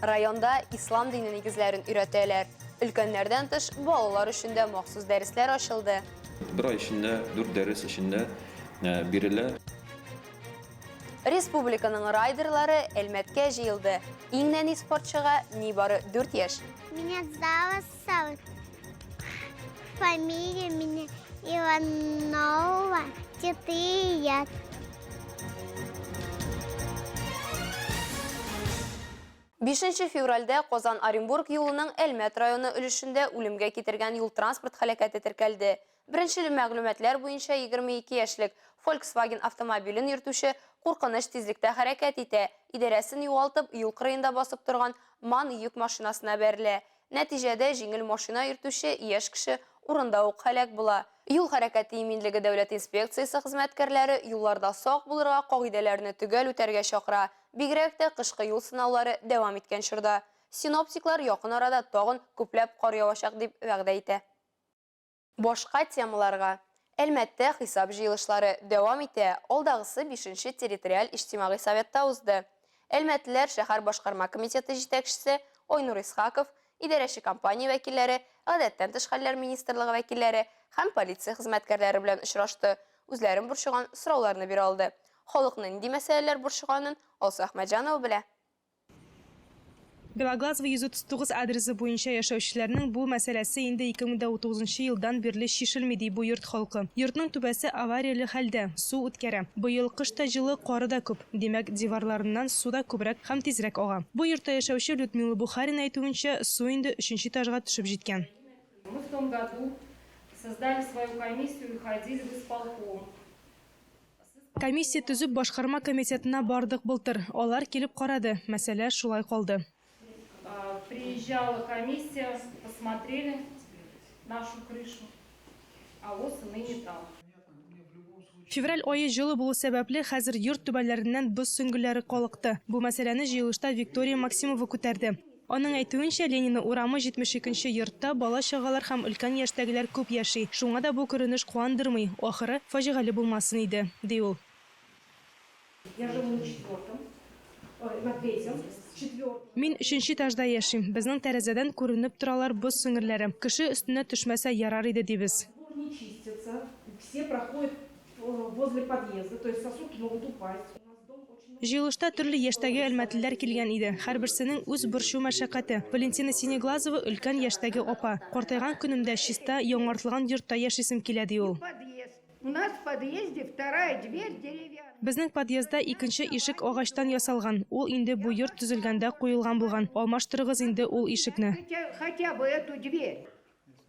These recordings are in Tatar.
Районда ислам дине нигезләрен өйрәтәләр. Өлкәннәрдән тыш балалар өчен дә махсус дәресләр ачылды. Бер ай эчендә дүрт дәрес эчендә э, бирелә. Республиканың райдерлары Әлмәткә җыелды. Иң нәни спортчыга нибары 4 яшь. Меня зовут Саут. Фамилия меня Иванова Тетыят. Бишенче февральдә Казан-Оренбург юлының Әлмәт районы өлешендә үлемгә китергән юл-транспорт халәкәте теркәлде. Беренче мәгълүматлар буенча 22 яшьлек Volkswagen автомобилен йөртүче куркыныч тизлектә хәрәкәт итә, идарәсен югалтып, юл кырыенда басып торган МАН йөк машинасына бәрелә. Нәтиҗәдә, җиңел машина йөртүче яшь кеше урында ук һәлак була. Юл хәрәкәте иминлеге дәүләт инспекциясе хезмәткәрләре юлларда сак булырга, кагыйдәләрне төгәл үтәргә чакыра, бигрәк тә кышкы юл сынаулары дәвам иткән чорда. Синоптиклар якын арада тагын күпләп кар явачак дип вәгъдә итә. Башка темаларга, Әлмәттә хисап җыелышлары дәвам итә, алдагысы бишенче территориаль иҗтимагый советта узды. Әлмәтлеләр шәһәр башкарма комитеты җитәкчесе Айнур Исхаков, идарәче компания вәкилләре, Гадәттән тыш хәлләр министрлыгы вәкилләре һәм полиция хезмәткәрләре белән очрашты, үзләрен борчыган сорауларны бирә алды. Халыкны нинди мәсьәләләр борчыганын Алсу Әхмәтҗанова белә. Белоглазово 139 адресы буенча яшәүчеләрнең бу мәсьәләсе инде 2019 нчы елдан бирле чишелми, ди бу йорт халкы. Йортның түбәсе аварияле хәлдә, су үткәрә. Быел кыш та җылы, кары да күп, димәк, диварларыннан су да күбрәк һәм тизрәк ага. Бу йортта яшәүче Людмила Бухарина әйтүенчә, су инде өченче этажга төшеп җиткән. Мы в том году создали свою комиссию и ходили в исполком. Комиссия төзеп башкарма комитетына бардык былтыр, алар килеп карады, мәсьәлә шулай калды. Приезжала комиссия, посмотрели нашу крышу, а воз и ныне там. Февраль ае җылы булу сәбәпле, хәзер йорт түбәләреннән боз сөңгелләре калыкты. Бу мәсьәләне җыелышта Виктория Максимова күтәрде. Аның әйтүенчә, Ленина урамы 72 нче йортта бала-чагалар һәм өлкән яшьтәгеләр күп яши, шуңа да бу күренеш куандырмый, ахыры, фаҗигале булмасын иде, ди ул. Мин өченче этажда яшим, безнең тәрәзәдән күренеп торалар боз сөңгеләре, кеше өстенә төшмәсә ярар иде, дибез. Җыелышта төрле яшьтәге әлмәтлеләр килгән иде. Һәрберсенең үз борчу-мәшәкате. Валентина Синеглазова, өлкән яшьтәге апа. Картайган көнемдә чиста, яңартылган йортта яшисем килә, ди ул. Безнең подъездда икенче ишек агачтан ясалган, ул инде бу йорт төзелгәндә куелган булган. Алмаштырыгыз инде ул ишекне.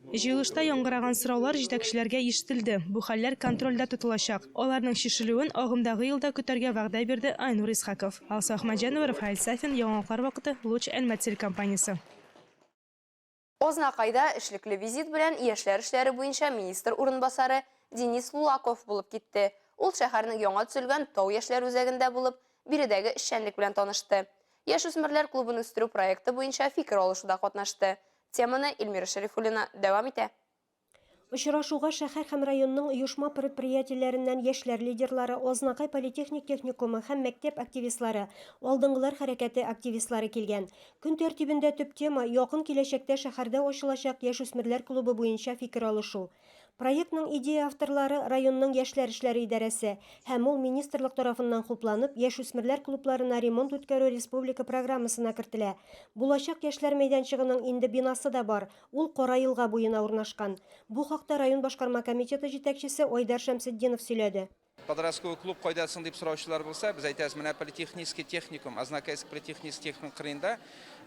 Җыелышта яңгыраган сораулар җитәкчеләргә ишетелде, бу хәлләр контрольдә тотылачак, аларның чишелүен агымдагы елда көтәргә вәгъдә бирде Айнур Исхаков. Алсу Әхмәтҗанова, Рафаэль Сафин, Яңалыклар вакыты, Луч Әлмәт телекомпаниясе. Азнакайда эшлекле визит белән яшьләр эшләре буенча министр урынбасары Денис Лулаков булып китте. Ул шәһәрнең яңа төзелгән Тау яшьләр үзәгендә булып, биредәге эшчәнлек белән танышты. Яшүсмерләр клубын үстерү проекты буенча фикер алышуда катнашты. Теманы Эльмира Шәрифуллина дәвам итә. Очрашуга шәһәр һәм районның оешма-предприятиеләреннән яшьләр лидерлары, Азнакай политехник техникумы һәм мәктәп активистлары, Алдынгылар хәрәкәте активистлары килгән. Көн тәртибендә төп тема, якын киләчәктә шәһәрдә ачылачак яшүсмерләр клубы буенча фикер алышу. Проектның идея авторлары районның яшьләр эшләре идарәсе һәм ул министрлык тарафыннан хупланып, яшүсмерләр клубларына ремонт үткәрү республика программасына кертелә. Булачак яшьләр мәйданчыгының инде бинасы да бар, ул Кара елга буена урнашкан. Бу хакта район башкарма комитеты җитәкчесе Айдар Шәмсетдинов сөйләде. Подростковый клуб кайда соң дип сораучылар булса, без әйтәбез, менә политехнический техникум, Азнакайск политехнический техникум кырыенда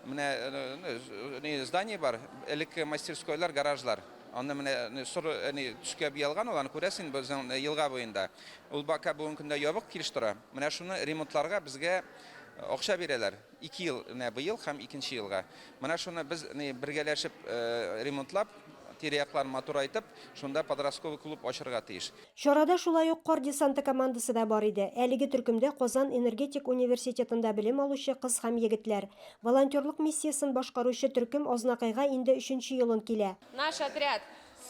менә здание бар, элекке мастерскойлар, гаражлар. Аны менә соры төскә буялган ул, аны күрәсең инде безнең елга буенда. Ул бака бүгенге көндә ябык килеш тора. Менә шуны ремонтларга безгә акча бирәләр. Ике ел, менә быел һәм икенче елга. Менә шуны без бергәләшеп ремонтлап, тирә-якларын матурайтып, шунда подростковый клуб ачырга тиеш. Чарада шулай ук Кар десанты командасы да бар иде. Әлеге төркемдә Казан энергетик университетында белем алучы кыз һәм егетләр. Волонтерлык миссиясен башкаручы төркем Азнакайга инде өченче елын килә. Наш отряд,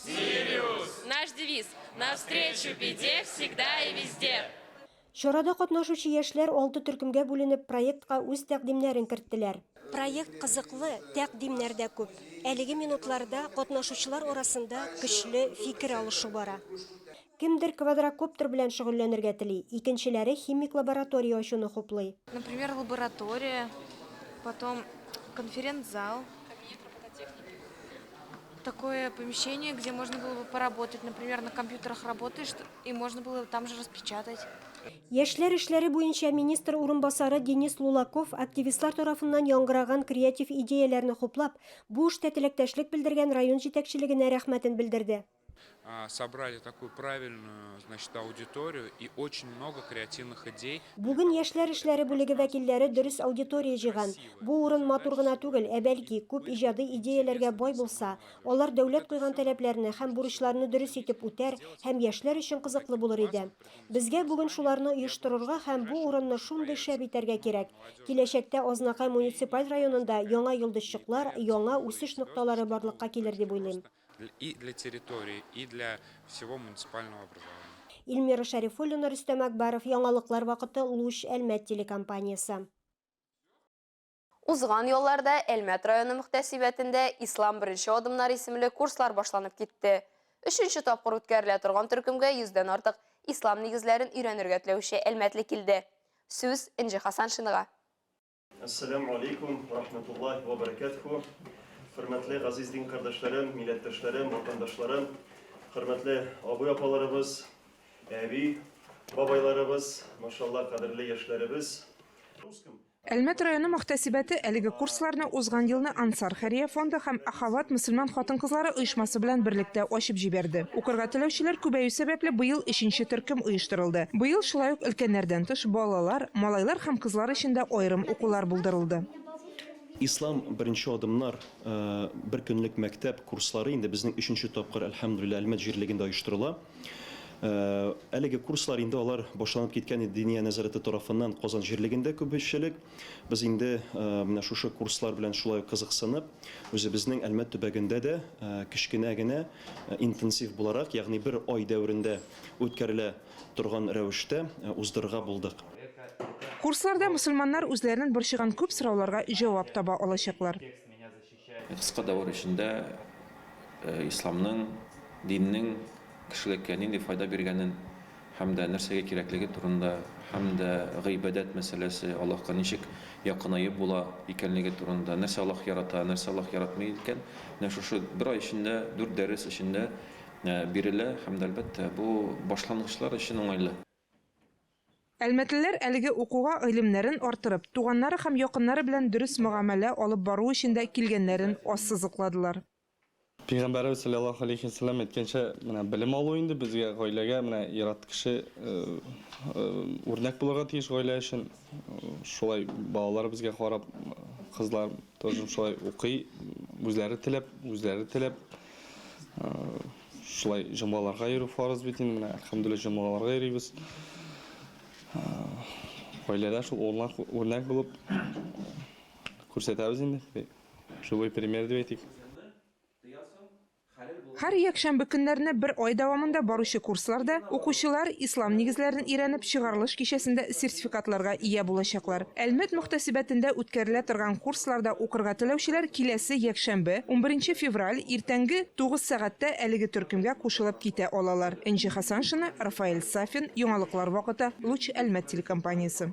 Сириус! Наш девиз, Навстречу беде всегда и везде! Чарада катнашучы яшьләр алты төркемгә бүленеп проектка үз тәкъдимнәрен керттеләр. Проект кызыклы, тәкъдимнәр дә күп. Әлеге минутларда катнашучылар арасында көчле фикер алышу бара. Кемдер квадрокоптер белән шөгыльләнергә тели, икенчеләре химик лаборатория ачуны хуплый. Например, лаборатория, потом конференц-зал, Такое помещение, где можно было бы поработать. Например, на компьютерах работаешь, и можно было там же распечатать. Яшьләр эшләре буенча министр урынбасары Денис Лулаков активистлар тарафыннан яңгыраган креатив идеяләрне хуплап, бу эштә теләктәшлек белдергән район җитәкчелегенә рәхмәтен белдерде. Бүген яшьләр эшләре бүлеге вәкилләре дөрес аудитория җыйган. Бу урын матур гына түгел, ә бәлки, күп иҗади идеяләргә бай булса, алар дәүләт куйган таләпләрне һәм бурычларны дөрес итеп үтәр һәм яшьләр өчен кызыклы булыр иде. Безгә бүген шуларны оештырырга һәм бу урынны шундый шәп итәргә кирәк. Киләчәктә Азнакай муниципаль районында яңа йолдызчыклар, яңа үсеш нокталары барлыкка килер дип уйлыйм. И для территории, и для всего муниципального образования. Ильмира Шәрифуллина, Рөстәм Әкбаров, Яңалыклар вакыты, Луч, Әлмәт телекомпаниясе. Узган ялларда Әлмәт районы мөхтәсибәтендә Ислам беренче адымнар исемле курслар башланып китте. Өченче тапкыр үткәрелә торган төркемгә йөздән артык Ислам нигезләрен өйрәнергә теләүче әлмәтле килде. Сүз Энҗе Хасаншинага. Әссәләмү алейкум вә рахмәтуллаһи вә бәрәкәтүһү. Хөрмәтле газиз дин кардәшләрем, милләттәшләрем, ватандашларым, хөрмәтле абый-апаларыбыз, әби, бабайларыбыз, машалла, кадерле яшьләребез. Әлмәт районы мөхтәсибәте әлеге курсларны узган елны Ансар хәйрия фонды һәм Ахават мөселман хатын-кызлары оешмасы белән берлектә ачып җибәрде. Укырга теләүчеләр күбәю сәбәпле, быел өченче төркем оештырылды. Быел шулай ук өлкәннәрдән тыш, балалар, Малайлар һәм кызлар өчен дә аерым укулар булдырылды. Ислам, беренче адымнар бер көнлек мәктәп курслары инде безнең өченче тапкыр, әлхәмдүлилләһ, Әлмәт җирлегендә оештырыла. Әлеге курслар инде алар башланып киткән иде Диния нәзарәте тарафыннан Казан җирлегендә күбечлек. Без инде менә шушы курслар белән шулай ук кызыксынып, үзебезнең Әлмәт төбәгендә дә кечкенә генә интенсив буларак, ягъни бер ай дәверендә үткәрелә, торган рәвештә уздырырга булдык. Курсларда мөселманнар үзләренен борчыган күп сорауларга җавап таба алачаклар. Кыска давыр эчендә исламның, диннең кешелеккә нинди файда биргәнен һәм дә нәрсәгә кирәклеге турында, һәм дә гыйбадәт мәсьәләсе, Аллаһка ничек якынаеп була икәнлеге турында, нәрсә Аллаһ ярата, нәрсә Аллаһ яратмый икән, менә шушы бер ай эчендә, дүрт дәрес эчендә бирелә һәм дә, әлбәттә, бу башлангычлар өчен уңайлы. Әлмәтлеләр әлеге укуга гыйлемнәрен арттырып, туганнары һәм якыннары белән дөрес мөгамәлә алып бару өчен дә килгәннәрен ассызыкладылар. Пәйгамбәребез салләллаһу алейһи ва сәлләм әйткәнчә, менә белем алу инде безгә, гаиләгә, менә ир-ат кеше үрнәк булырга тиеш гаилә өчен. Шулай балалар безгә карап, кызлар. Тоже шулай укый, үзләре теләп, үзләре теләп. Шулай җомгаларга йөрү фарыз бит инде, әлхәмдүлилләһ, җомгаларга йөрибез. Гаиләдә шул урнак, үрнәк булып күрсәтәбез инде. Живой пример дип әйтик. Һәр якшәмбе көннәренә бер ай дәвамында баручы курсларда укучылар Ислам нигезләрен өйрәнеп, чыгарылыш кичәсендә сертификатларга ия булачаклар. Әлмәт мөхтәсибәтендә үткәрелә торган курсларда укырга теләүчеләр киләсе якшәмбе, унберенче февраль, иртәнге тугыз сәгатьтә әлеге төркемгә кушылып китә алалар. Энҗе Хәсаншина, Рафаэль Сафин, Яңалыклар вакыты, Луч Әлмәт телекомпаниясе.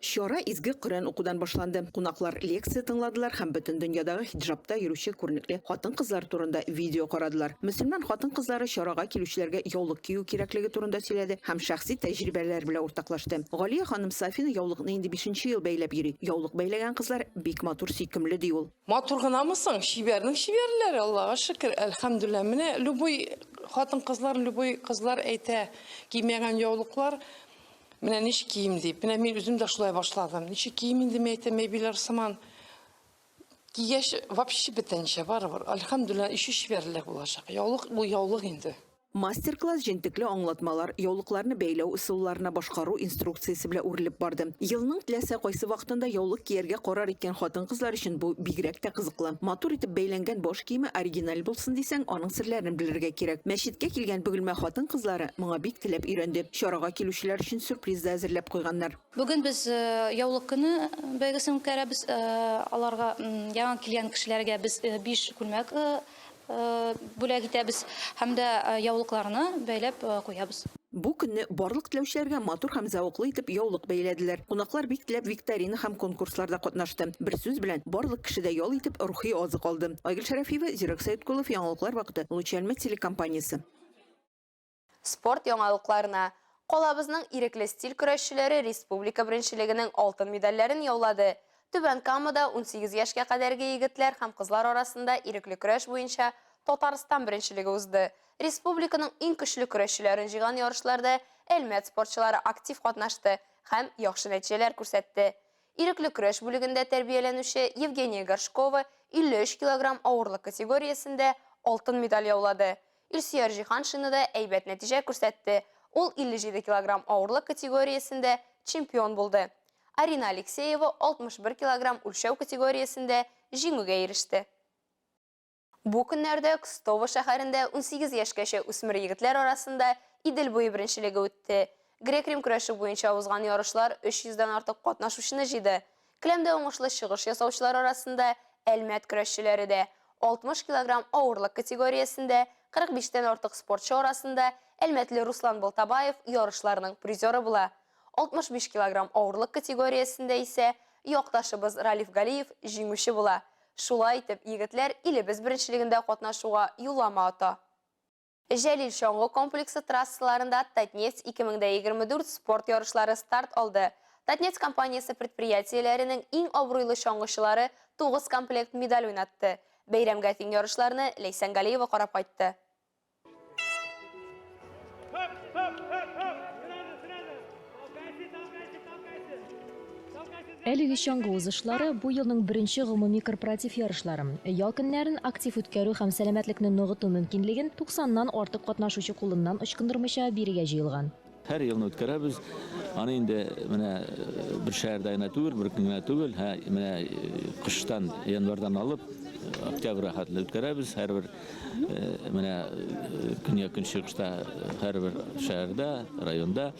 Чара изге Коръән укудан башланды. Кунаклар лекция тыңладылар һәм бөтен дөньядагы хиджабта йөрүче күренекле хатын-кызлар турында видео карадылар. Мөселман хатын-кызлары чарага килүчеләргә яулык кию кирәклеге турында сөйләде һәм шәхси тәҗрибәләре белән уртаклашты. Галия ханым Сафина яулыкны инде бишенче ел бәйләп йөри. Яулык бәйләгән кызлар бик матур, сөйкемле, ди ул. Матур гынамы соң, чибәрнең чибәрләре, Аллага шөкер, әлхәмдүлләһ. Менә любой хатын-кызлар, любой кызлар әйтә, кимәгән яулыклар. Менә ничек кием дип. Менә мин үзем дә шулай башладым. Ничек кием инде мин әйтәм, әбиләр сыман. Кигәч, вообще бетәнчә барыбер. Альхамдулилла, еще чибәрлек булачак. Яулык бу яулык инде. Мастер-класс җентекле аңлатмалар, яулыкларны бәйләү ысулларына башкару инструкциясе белән үрелеп барды. Елның теләсә кайсы вакытында яулык кияргә карар иткән хатын-кызлар өчен бу бигрәк тә кызыклы. Матур итеп бәйләнгән баш киеме оригиналь булсын дисәң, аның серләрен белергә кирәк. Мәчеткә килгән Бөгелмә хатын-кызлары моңа бик теләп өйрәнде. Чарага килүчеләр өчен сюрприз да әзерләп куйганнар. Бүген без Яулык көне бәйгесен үткәрәбез. Аларга, яңа килгән кешеләргә без биш күлмәк бүләк итәбез һәм дә яулыкларны бәйләп куябыз. Бу көнне барлык теләүчеләргә матур һәм зәвыклы итеп яулык бәйләделәр. Кунаклар бик теләп викторина һәм конкурсларда катнашты. Бер сүз белән, барлык кеше дә ял итеп, рухи азык алды. Айгөл Шәрәфиева, Зирәк Сәеткулов, Яңалыклар вакыты, Лучәлмә телекомпаниясе. Спорт яңалыкларына. Калабызның ирекле стиль көрәшчеләре республика беренчелегенең алтын медальләрен яулады. Түбән Камада унсигез яшькә кадәрге егетләр һәм кызлар арасында ирекле көрәш буенча Татарстан беренчелеге узды. Республиканың иң көчле көрәшчеләрен җыйган ярышларда Әлмәт спортчылары актив катнашты һәм яхшы нәтиҗәләр күрсәтте. Ирекле көрәш бүлегендә тәрбияләнүче Евгения Горшкова 53 килограмм авырлык категориясендә алтын медаль яулады. Илсөяр Җиһаншина да әйбәт нәтиҗә күрсәтте, ул 57 килограмм авырлык категориясендә чемпион булды. Арина Алексеева 61 килограмм үлчәү категориясендә җиңүгә иреште. Бу көннәрдә Кстово шәһәрендә унсигез яшькәчә үсмер егетләр арасында Идел буе беренчелеге үтте. Грек-рим көрәше буенча узган ярышлар 300 дән артык катнашучыны җыйды. Келәмдә уңышлы чыгыш ясаучылар арасында Әлмәт көрәшчеләре дә, 60 килограмм авырлык категориясендә 45 тән артык спортчы арасында әлмәтле Руслан Балтабаев ярышларның призеры була, 65 килограмм авырлык категориясендә исә якташыбыз Ралиф Галиев җиңүче була. Шулай итеп, егетләр илебез беренчелегендә катнашуга юллама ата. Җәлил чаңгы комплексы трассаларында Татнефть 2024 спорт ярышлары старт алды. Татнефть компаниясе предприятиеләренең иң абруйлы чаңгычылары 9 комплект медаль уйнатты. Бәйрәмгә тиң ярышларны Ләйсән Галиева карап кайтты. Әлеге чаңгы узышлары, бу елның беренче гомуми корпоратив ярышлары. Ял көннәрен актив үткәрү һәм сәламәтлекне ныгыту мөмкинлеген 90 нан артык катнашучы кулыннан ычкындырмыйча бирергә җыелган. Һәр елны үткәрәбез. Аны инде менә бер шәһәрдә генә түгел, бер көн генә түгел, ә менә кыштан, январьдан алып, октябрьгә хәтле үткәрәбез. Һәрбер Менә көньяк көнчыгышта һәрбер шәһәрдә, районда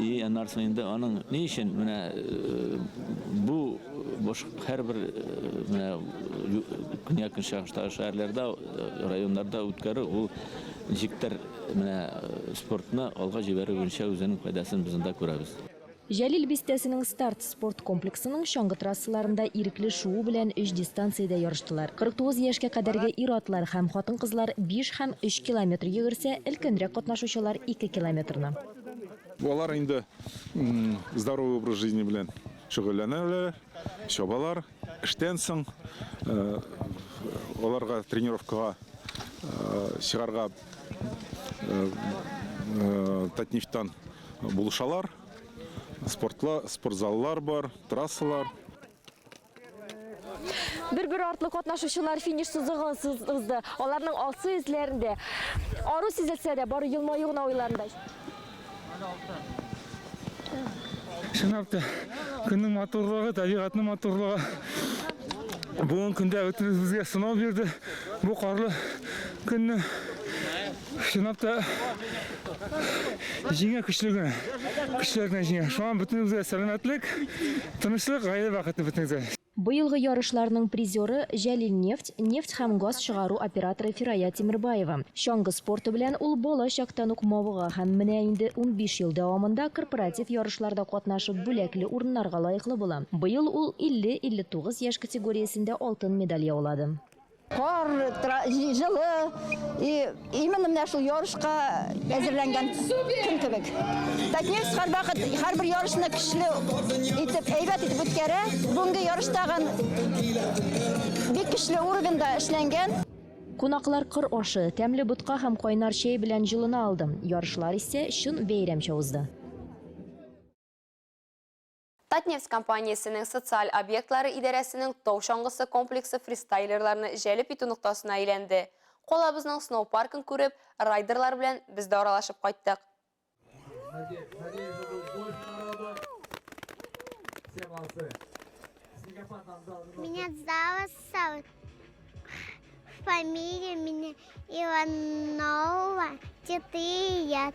и аннарсын инде аның ни өчен менә бу бош һәрбер менә көньяк көнчыгышта шәһәрләрдә, районнарда үткәрү ул ничектер менә спортны алга җибәрү буенча үзенең файдасын без анда күрәбез. Җәлил бистәсенең Старт спорт комплексының чаңгы трассаларында ирекле шуу белән өч дистанциядә ярыштылар. 49 яшькә кадәрге ир-атлар һәм хатын-кызлар биш һәм өч километр йөгерсә, өлкәнрәк катнашучылар ике километрны. Алар инде здоровый образ жизни белән шөгыльләнәләр, чабалар. Эштән соң аларга тренировкага чыгарга Татнефтьтан булышалар. Спортзаллар бар, трассалар. Бер-бер артлы катнашучылар финиш сызыгын сызды. Аларның алсу йөзләрендә ару сизелсә дә, бары елмаю гына уйларында. Чынлап та, көннең матурлыгы, табигатьнең матурлыгы бүгенге көндә бөтенебезгә сынау бирде. Бу карлы көнне чынлап та җиңә көчле генә. Көчле генә җиңә. Шуңа бөтенебезгә сәламәтлек, тынычлык, гаилә бәхете бөтенебезгә. Быелгы ярышларның призеры, Җәлилнефть, нефть һәм газ чыгару операторы Фирая Тимербаева. Чаңгы спорты белән ул бала чактан ук мавыга һәм менә инде унбиш ел дәвамында корпоратив ярышларда катнашып бүләкле урыннарга лаеклы була. Быел ул 50-59 яшь категориясендә алтын медаль яулады. Кар, җылы, именно менә шул ярышка әзерләнгән көн кебек. Татнефть һәрвакыт һәрбер ярышны көчле итеп, әйбәт итеп үткәрә. Бүгенге ярыш тагын бик көчле уровеньда эшләнгән. Кунаклар кыр ашы, тәмле ботка һәм кайнар чәй белән җылына алды. Ярышлар исә чын бәйрәмчә узды. Татнефть компаниясенең социаль объектлары идарәсенең тау чаңгысы комплексы фристайлерларны җәлеп итү ноктасына әйләнде. Калабызның сноупаркын күреп, райдерлар белән без дә аралашып кайттык. Меня зовут Савр. Фамилия меня Иванова, 4 лет.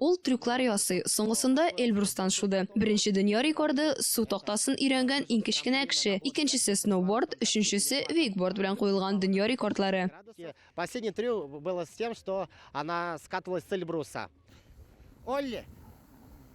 Ул трюклар ясый, соңгысында Эльбрустан шуды. Беренче дөнья рекорды, су тактасын өйрәнгән иң кечкенә кеше, икенчесе сноуборд, өченчесе вейкборд белән куелган дөнья рекордлары. Последний трюк было с тем, что она скатывалась с Эльбруса. Олли!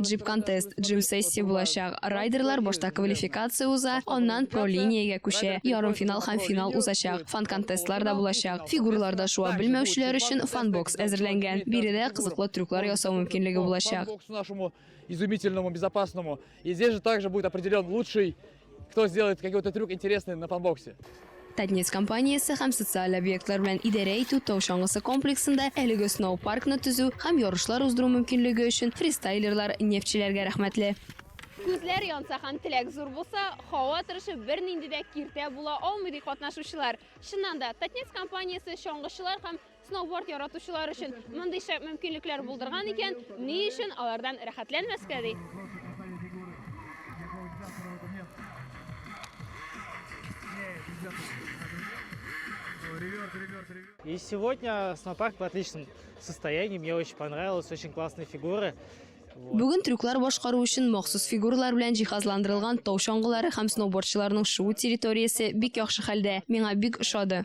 джип-контест, джим-сессия булачак. Райдерлар башта квалификация уза, аннан про линиягә күчә. Ярымфинал һәм финал узачак. Фан-контестлар да булачак. Фигураларда шуа белмәүчеләр өчен фан-бокс әзерләнгән. Биредә кызыклы трюклар ясау мөмкинлеге булачак. Изумительному, безопасному. И здесь же также будет определен лучший Кто сделает какой-то трюк интересный на панбоксе? Татнефть компаниясе һәм социаль объектлар белән идарә итү тау чаңгысы комплексында әлеге сноу паркны төзү һәм ярышлар уздыру мөмкинлеге өчен фристайлерлар нефтьчеләргә рәхмәтле. Күзләр янса һәм теләк зур булса, һава торышы бернинди дә киртә була алмый, ди катнашучылар. Чыннан да, Татнефть компаниясе чаңгычылар һәм сноуборд яратучылар өчен мондый шәп мөмкинлекләр булдырган икән, ни өчен алардан рәхәтләнмәскә ди? И сегодня снопарк в отличном состоянии. Мне очень понравилось, очень классные фигуры. Бүген трюклар башкару өчен махсус фигуралар белән җиһазландырылган тау чаңгылары һәм сноубордчыларның шуу территориясе бик яхшы хәлдә. Миңа бик ошады.